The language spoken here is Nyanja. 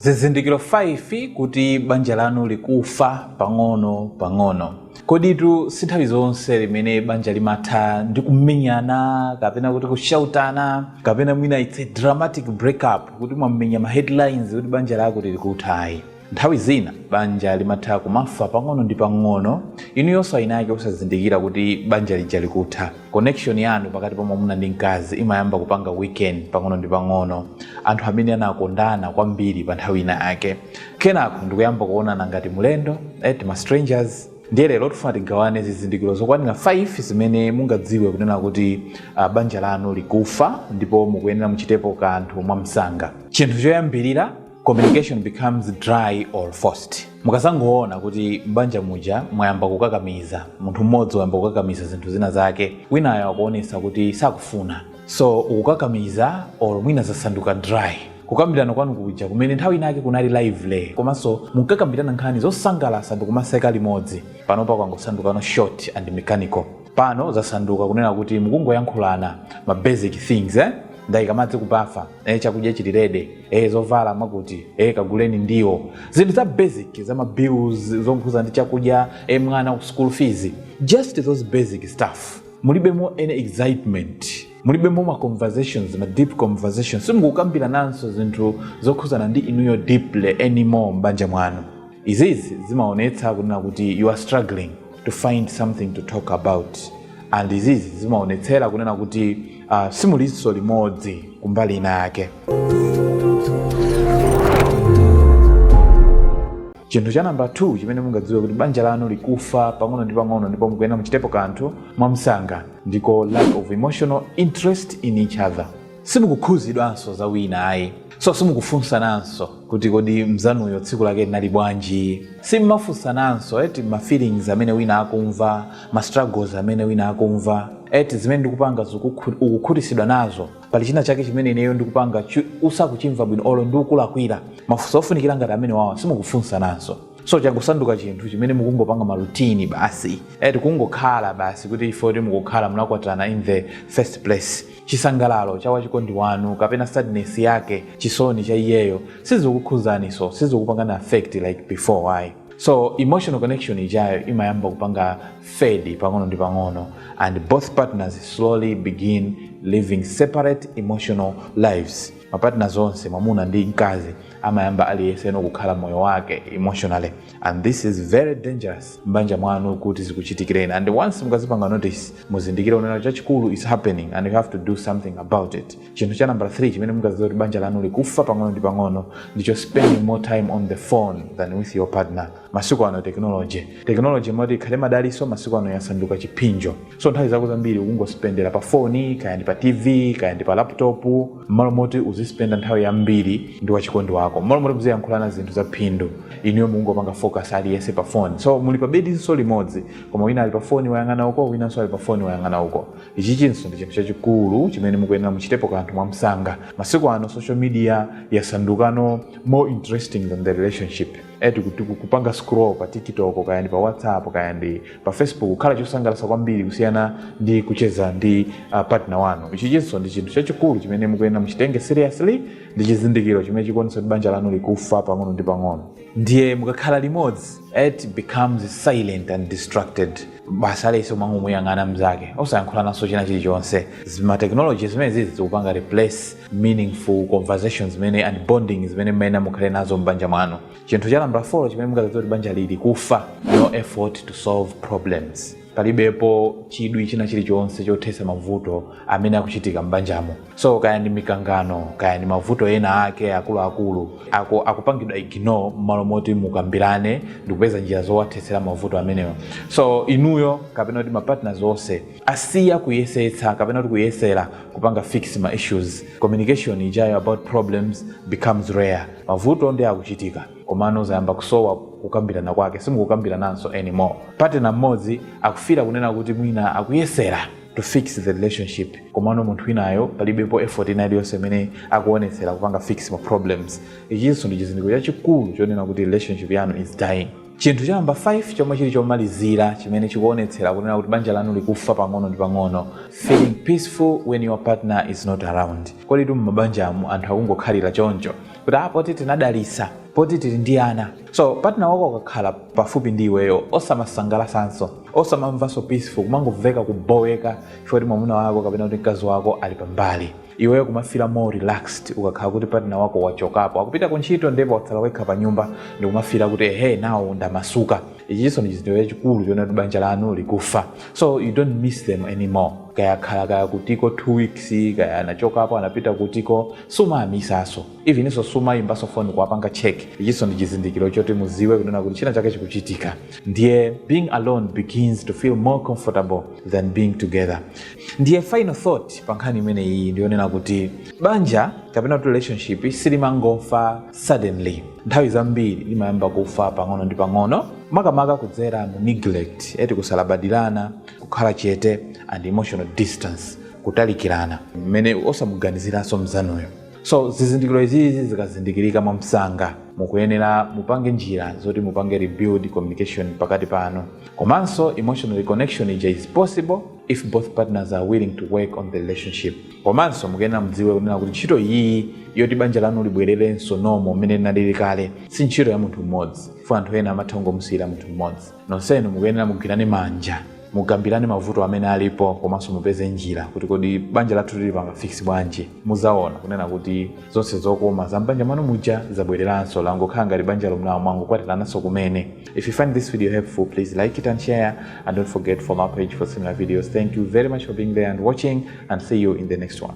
Zizindikiro 5 kuti banja lanu likufa pang'ono pang'ono. Koditu si nthawi zonse limene banja limatha ndi kumenyana kapena kuti kushautana kapena mwina it's a dramatic breakup kuti mwamenya ma headlines kuti banja lakuti likutha ayi. Nthawi zina banja limatha kumafa pang'ono ndi pang'ono inuyonso awinake osazindikira kuti banja lija likutha. connection yanu pakati pa mwamuna ndi mkazi imayamba kupanga weaken pang'ono ndi pang'ono anthu amene anakondana kwambiri pa nthawi ina yake kenako ndikuyamba kuonana ngati mlendo eh, eti ma strangers ndiye lero tifuna tigawane zizindikiro zokwanira 5 zimene mungadziwe kunena kuti uh, banja lanu likufa ndipo mukuyenera muchitepo kanthu mwamsanga chinthu choyambirira communication becomes dry or forced mukazangoona kuti m'banja muja mwayamba kukakamiza munthu mmodzi wayamba kukakamiza zinthu zina zake winayo akuonesa kuti sakufuna so ukukakamiza or mwina zasanduka dry kukambirana kwanu kuja kumene nthawi inake kunali lively komanso munkakambirana nkhani zosangalatsa ndi kumaseka limodzi panopa kwangosandukano short and mechanical pano zasanduka kunena kuti mukungoyankhulana ma basic things eh? ndayika madzi kubafa eh, chakudya chili ready eh, zovala mwakuti eh, kaguleni ndiwo zinthu za basic za mabills zokhuzana ndi chakudya eh, mwana ku school fees just those basic stuff mulibemo any excitement mulibemo ma conversations ma deep conversations simukukambirananso zinthu zokhuzana ndi inuyo deeply anymore m'banja mwanu izizi zimaonetsa kunena kuti you are struggling to find something to talk about and izizi zimaonetsera kunena kuti uh, simulinso limodzi kumbali ina yake chinthu cha namba 2 chimene mungadziwe kuti banja lanu likufa pang'ono ndi pang'ono ndipo mukuyenera muchitepo kanthu mwamsanga ndicho lack of emotional interest in each other simukukhuzidwanso za wina ayi so simukufunsananso kuti kodi mzanuyo tsiku lake linali bwanji simumafunsananso eti ma feelings amene wina akumva ma struggles amene wina akumva eti zimene ndikupanga zikukhu- ukukhutisidwa nazo pali china chake chimene ineyo ndikupanga chi- usakuchimva bwino olo ndikulakwira mafunso ofunikira ngati amenewawa simukufunsananso so changosanduka chinthu chimene mukungopanga ma routine basi eti kungokhala basi kuti poti mukukhala munakwatirana in the first place Chisangalalo cha wachikondi wanu kapena sadness yake, chisoni cha iyeyo, sizikukhuzaniso, sizikupangani affect like before ayi. So emotional connection ijayo imayamba kupanga fade pang'ono ndi pang'ono and both partners slowly begin living separate emotional lives. Ma partners onse mwamuna ndi mkazi amayamba aliyeseno kukhala moyo wake emotionally and this is very dangerous mbanja mwanu kuti zikuchitikireni and once mukazipanga notice muzindikire unena chachikulu is happening and you have to do something about it chinthu cha number 3 chimene mungaziwe kuti banja lanu likufa pang'ono ndi pang'ono ndicho spending more time on the phone than with your partner masiku ano technology moti ikhale madaliso masiku ano yasanduka chipsinjo so nthawi zako zambiri ukungospendera pa foni kaya ndi pa tv kaya ndi pa laptop mmalo moti uzispenda nthawi yambiri ndi wachikondi wako mmalo moti muziyankhulana zinthu za phindu inuyo mukungopanga focus aliyense pa phone so muli pa bedinso limodzi koma wina ali pa foni wayang'ana uko winanso ali pa foni wayang'ana uko ichinso ndi chinthu chachikulu chimene mukuyenera muchitepo kanthu mwamsanga masiku ano social media yasandukano more interesting than the relationship eti kuti kupanga scroll pa tiktok kaya ndi pa whatsapp kaya ndi pa facebook kukhala chosangalatsa kwambiri kusiyana ndi kucheza ndi uh, partner wanu ichinso ndi chinthu chachikulu chimene mukuyenera muchitenge seriously ndi chizindikiro chimene chikuonetsa kuti banja lanu likufa pang'ono ndi pang'ono ndiye mukakhala limodzi it becomes silent and distracted basi aliyense kumangomuyang'ana mzake osayankhulananso china chilichonse zimatekinoloji zimene zizi zikupanga replace meaningful conversations zimene and bonding zimene mmene mukhale nazo m'banja mwanu chinthu cha namba 4 chimene mungadziwe kuti banja lili kufa no effort to solve problems palibepo chidwi china chilichonse chothetsa mavuto amene akuchitika m'banjamo so kaya ndi mikangano kaya ndi mavuto ena ake akuluakulu akupangidwa ignore m'malo moti mukambirane ndikupeza njira zowathetsera mavuto amenewo so inuyo kapena kuti mapartners onse asiya kuyesetsa kapena kuti kuyesera kupanga fix ma issues communication ijayo about problems becomes rare mavuto ndi akuchitika komano zayamba kusowa kukambirana kwake simukukambirananso anymore partner mmodzi akufila kunena kuti mwina akuyesera to fix the relationship komano munthu winayo palibepo effort ina iliyonse imene akuonetsera kupanga fix ma problems ichinso ndi chizindikiro chachikulu chonena kuti relationship yanu is dying chinthu cha namba 5 chomwe chili chomalizira chimene chikuonetsera kunena kuti banja lanu likufa pang'ono ndi pang'ono feeling peaceful when your partner is not around kodi tu m'mabanjamu anthu akungokhalira choncho kuti ah, poti tinadalisa poti tili ndi ana so partner wako akakhala pafupi ndi iweyo osamasangalalanso osamamvanso peaceful kumangomveka kuboweka chifukwa kuti mwamuna wako kapena kuti mkazi wako ali pambali iweyo kumafila more relaxed ukakhala kuti partner wako wachokapo akupita ku ntchito ndipo watsala wekha pa nyumba ndikumafila kuti ehe now ndamasuka ichinso ndi chizindikiro chachikulu chonena kuti banja lanu likufa so you don't miss them anymore kaya khala kaya kutiko two weeks kaya anachokapo anapita kutiko sumawamisanso eveninso sumayimbanso phone kuwapanga check ichinso ndi chizindikiro choti muziwe kunena kuti china chake chikuchitika ndiye being alone begins to feel more comfortable than being together ndiye final thought pa nkhani imene iyi ndiyonena kuti banja kapena kuti relationship silimangofa suddenly nthawi zambiri limayamba kufa pang'ono ndi pang'ono makamaka kudzera mu neglect eti kusalabadirana kukhala chete and emotional distance kutalikirana. mmene osamuganiziranso mzanuyo. So zizindikiro izizi zikazindikirika mwamsanga mukuyenera mupange njira zoti mupange rebuild communication pakati panu. Komanso emotional reconnection is possible if both partners are willing to work on the relationship. Komanso mukuyenera mudziwe kunena kuti ntchito iyiyi yoti banja lanu libwererenso normal mmene linalili kale si ntchito ya munthu mmodzi. Chifukwa anthu ena amatha kungomusiyira munthu mmodzi. Nonsenu mukuyenera mugwirane manja, mukambirane mavuto amene alipo komanso mupeze njira kuti kodi banja lathu tilipanga fix bwanji. Muzawona kunena kuti zonse zokoma za m'banja mwanu muja zabwereranso langokhala ngati banja lomwe mwangokwatirananso kumene. If you find this video helpful please like it and share and don't forget to follow my page for similar videos. Thank you very much for being there and watching and see you in the next one.